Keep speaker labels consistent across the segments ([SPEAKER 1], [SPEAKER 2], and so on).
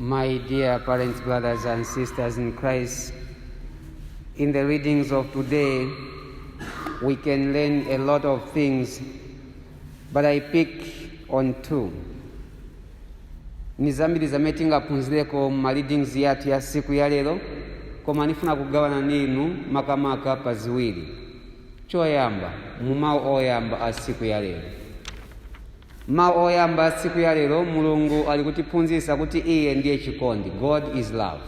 [SPEAKER 1] My dear parents, brothers, and sisters in Christ, in the readings of today, we can learn a lot of things, but I pick on two. ni zambiri zamene tingaphunzireko mu ma readings yathu ya siku ya lero koma nifuna kugawana na inu makamaka pa ziwiri choyamba mu mawu oyamba a siku ya lero Mau oyamba a siku ya lero Mulungu ali kutiphunzisa kuti iye ndiye chikondi God is love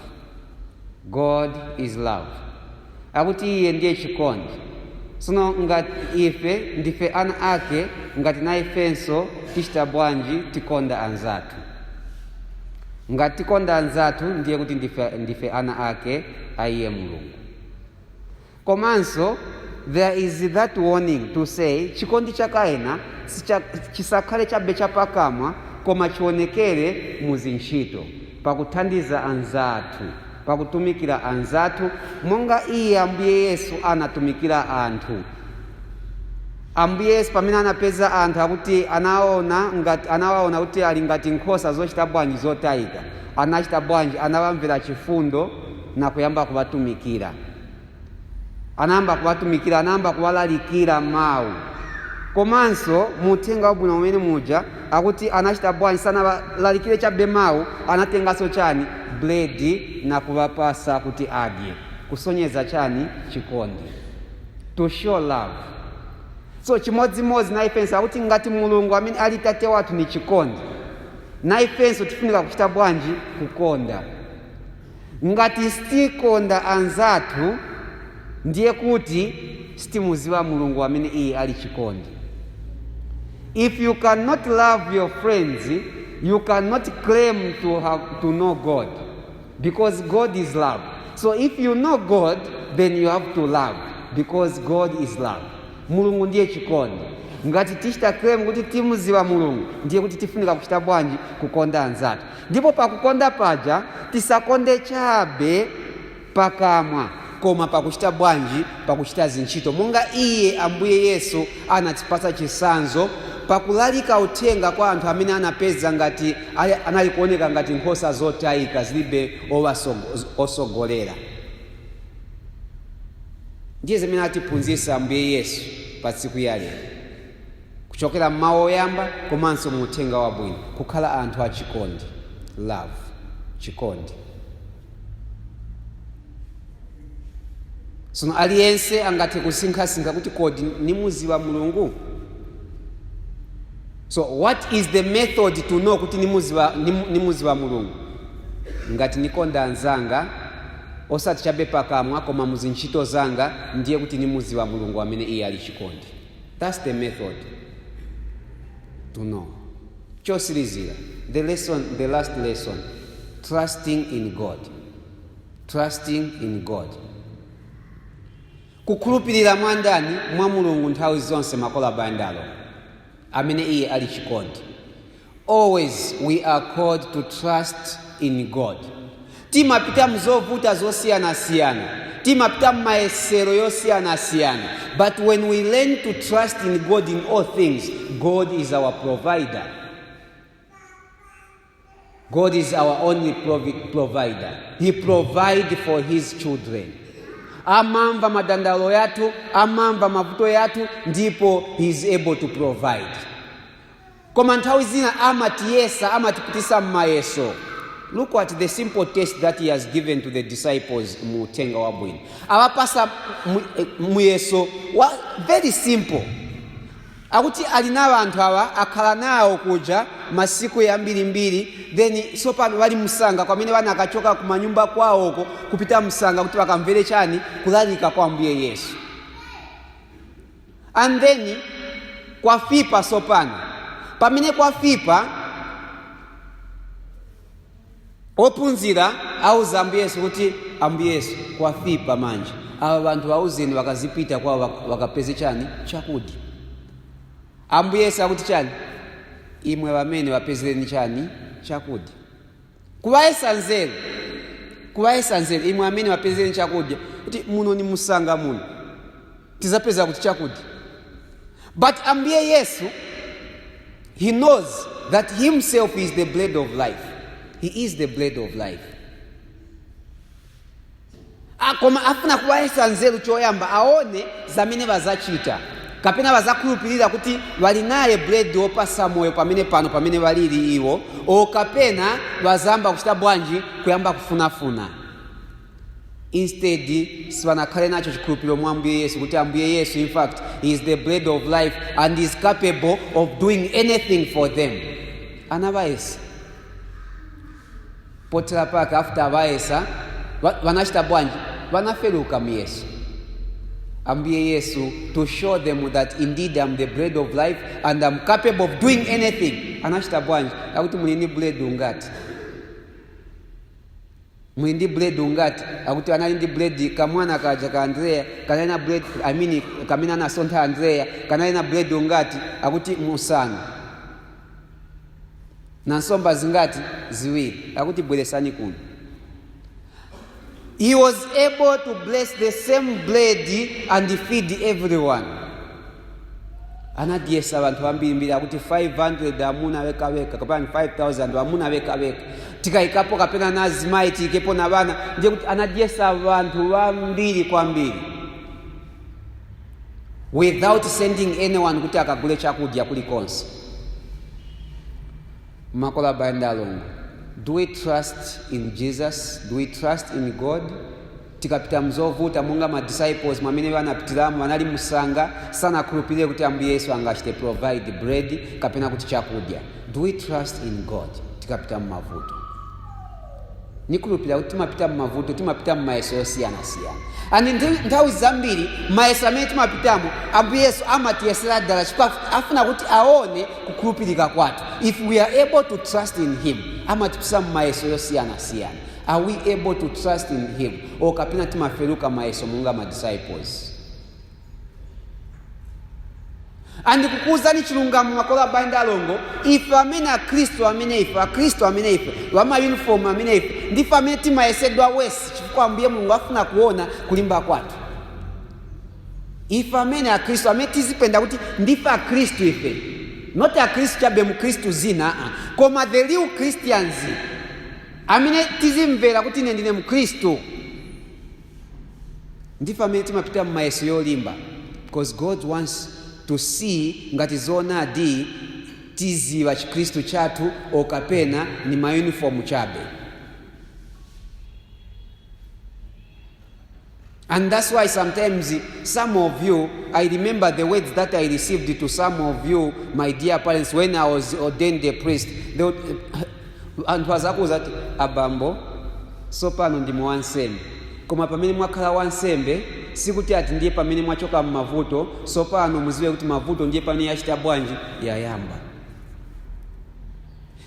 [SPEAKER 1] God is love akuti iye ndiye chikondi sono ngati ife ndife ana ake ngati na ifenso tichita bwanji tikonda anzathu ngati tikonda anzathu ndiye kuti ndife ana ake a iye Mulungu Komanso there is that warning to say chikondi chakayena chisakhale chabe chapakamwa koma chionekere mu zintchito pakuthandiza anzathu pakutumikira anzathu monga iye ambuye yesu anatumikira anthu ambuye yesu pamene anapeza anthu akuti anawaona kuti ali ngati nkhosa zochita bwanji zotayika anachita bwanji anawamvera chifundo nakuyamba kuwatumikira anayamba kuwatumikira anayamba kuwalalikira mawu komanso mu uthenga wabwino umene muja akuti anachita bwanji sanawalalikire chabe mawu anatenganso chani buledi nakuwapasa kuti adye kusonyeza chani chikondi to show love so chimodzimodzi na ifenso akuti ngati mulungu amene ali tate wathu ni chikondi na ifenso tifunika kuchita bwanji kukonda Ngati sitikonda anzathu, ndiye kuti sitimuziwa Mulungu amene iye ali chikondi. If you cannot love your friends, you cannot claim to know God because God is love. So if you know God, then you have to love because God is love. Mulungu ndiye chikondi. Ngati tichita claim kuti timuziwa Mulungu, ndiye kuti tifunika kuchita bwanji kukonda anzathu. Ndipo pakukonda paja tisakonde chabe pakamwa, koma pakuchita bwanji? Pakuchita zintchito, monga Iye, Ambuye Yesu, anatipasa chisanzo, pakulalika uthenga kwa anthu amene anapeza ngati anali kuoneka ngati nkhosa zotayika zilibe osogolera. Ndiye zimene atiphunzisa Ambuye Yesu pa siku ya lero. kuchokera m'mawu oyamba komanso mu uthenga wabwino, kukhala anthu achikondi, love, chikondi. Tsono aliyense angathe kusinkhasinkha kuti kodi nimuziwa Mulungu? So what is the method to know kuti nimuziwa, nimu, nimuziwa Mulungu? Ngati nikonda anzanga osati chabe pakamwa koma muzintchito zanga ndiye kuti nimuziwa Mulungu amene iye ali chikondi. Thats the method to know. Chosilizira, the lesson, the last lesson, trusting in God. Trusting in God. Kukhulupirira mwa ndani? Mwa Mulungu nthawi zonse makola bandalo amene iye ali chikondi. Always we are called to trust in God. Timapita mzovuta zosiyanasiyana, timapita mmayesero yosiyanasiyana, but when we learn to trust in God in all things, God is our provider. God is our only provi- provider. He provide for his children. Amamva madandalo yathu, amamva mavuto yathu, ndipo he is able to provide. Koma nthawi zina amatiyesa, amatipitisa mmayeso. Look at the simple test that he has given to the disciples mu uthenga wabwino. Awapasa mu- eh, muyeso wa very simple. Akuti ali nawo anthu awa akhala nawo kuja masiku yambirimbiri then tsopano bali msanga kwamene bana akachoka kumanyumba kwawoko kupita msanga kuti bakamvere chani kulalika kwa Ambuye Yesu. and then kwafipa sopano pamene kwafipa ophunzira auza ambuye yesu kuti ambuye yesu kwafipa manje awa vanthu auzeni vakazipita kwawo vak- vakapeze chani chakudya ambuye yesu akuti chani imwe vamene vapezereni chani chakudya Kuwayesa nzeru, kuwayesa nzeru, imwe amene wapezeni chakudya, kuti muno ni musanga muno, tizapeza kuti chakudya. But Ambuye Yesu, he knows that himself is the bread of life. He is the bread of life. Ah, koma afuna kuwayesa nzeru choyamba aone zamene bazachita kapena bazakhulupirira kuti bali naye bread wopasa moyo pamene pano pamene balili iwo o kapena bazayamba kuchita bwanji kuyamba kufunafuna instead sibanakhale nacho chikhulupiriro mwa ambuye yesu kuti ambuye yesu in fact he is the bread of life and is capable of doing anything for them anabayesa Pothera pake after abayesa ba- banachita bwanji banafeluka muyeso ambuye yesu to show them that indeed am the bread of life and am capable of doing anything anachita bwanji akuti muli ndi buledi ungati muli ndi buledi ungati akuti anali ndi buledi kamwana kaja ka andreya kanali na buledi I mean, kamene anasontha andreya kanali na buledi ungati akuti musanu na nsomba zingati? Ziwiri. Akuti bweresani kuno. He was able to bless the same bread and feed everyone. Anadyesa vanthu ambirimbiri akuti 500 amuna wekaweka kapena 5000 amuna wekaweka tikayikapo kapena na azimayi tiyikepo na vana ndiye kuti anadyesa vanthu vambiri kwambiri without sending anyone kuti akagule chakudya kulikonse makolo abale ndi alongo do we trust in jesus do we trust in god tikapita mzovuta monga ma disciples mwamene anapitiramo wanali musanga sanakhulupirire kuti ambuye yesu angachite provide bread kapena kuti chakudya do we trust in god tikapita mumavuto nikhulupirira kuti timapita m'mavuto timapita m'mayeso yosiyanasiyana and nthawi zambiri mayeso amene timapitamo ambuye yesu amatiyesera dala chifukwa afuna kuti aone kukhulupirika kwathu if we are able to trust in him amatipitisa m'mayeso yosiyanasiyana are we able to trust in him or kapena timafeluka mayeso monga ma disciples and kukuwuzani chilungamo makolo abale ndi alongo ife amene akhristu amene ife akhristu amene ife wamayunifomu amene ife ndife amene timayesedwa wesi chifukwa ambuye mulungu afuna kuona kulimba kwathu ife amene akhristu amene tizipenda kuti ndife akhristu ife not akhristu chabe mkhristu zina koma the real christians amene tizimvera kuti ine ndine mkhristu Ndife amene timapita mumayeso yolimba because God wants to see ngati zoonadi tiziwa chikristu chathu or kapena ni ma uniform chabe and that's why sometimes some of you i remember the words that i received to some of you my dear parents when i was ordained a priest Anthu azakuuza kuti, Abambo, tsopano ndinu wansembe. Koma pamene mwakhala wansembe, sikuti ati ndiye pamene mwachoka m'mavuto, tsopano muziwe kuti mavuto ndiye pamene yachita bwanji? Yayamba.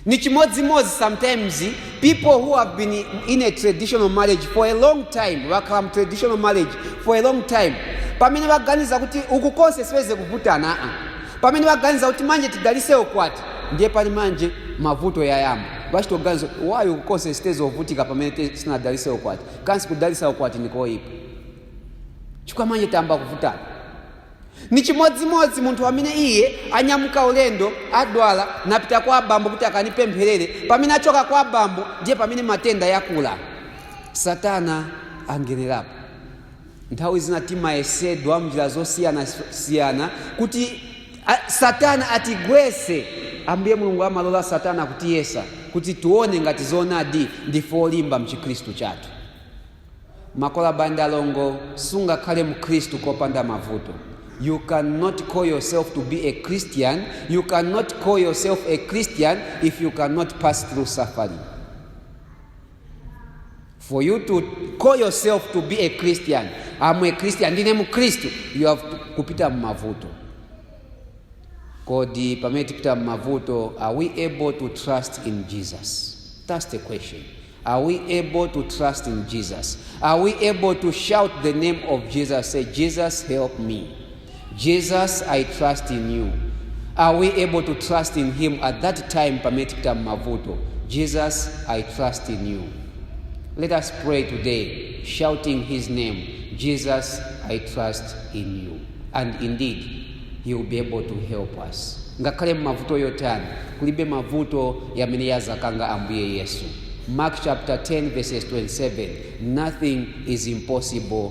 [SPEAKER 1] Ni chimodzimodzi sometimes people who have been in a traditional marriage for a long time, wakhala mu traditional marriage for a long time, pamene waganiza kuti uku konse sibenze kuvutana, aa, Pamene waganiza kuti manje tidalise ukwati ndiye pali manje mavuto yayamba. Vachitoganiza why uku konse sitenze ovutika pamene sinadalise ukwati. Kansi kudalisa ukwati nikoyipa. Chifukwa manje tayamba kuvutana. Ni chimodzimodzi munthu amene iye anyamuka ulendo adwala napita kwa abambo kuti akanipempherere pamene achoka kwa abambo ndiye pamene matenda yakula satana angenerapo Nthawi zina timayesedwa m'njira zosiyanasiyana kuti Satana atigwetse. Ambuye Mulungu amalola Satana kutiyesa kuti tione ngati zoonadi ndife olimba mchikhristu chathu. Makolo abale ndi alongo, sungakhale mkhristu kopanda mavuto. You cannot call yourself to be a Christian, you cannot call yourself a Christian if you cannot pass through suffering. for you to call yourself to be a christian am a christian ndine mkhristu you have to kupita mmavuto kodi pamene tipita mmavuto are we able to trust in jesus that's the question are we able to trust in jesus are we able to shout the name of jesus say jesus help me Jesus I trust in you are we able to trust in him at that time pamene tipita m'mavuto Jesus I trust in you let us pray today shouting his name Jesus I trust in you and indeed he will be able to help us ngakhale m'mavuto yotani kulibe mavuto yamene yazakanga ambuye yesu mark chapter 10 verses 27 nothing is impossible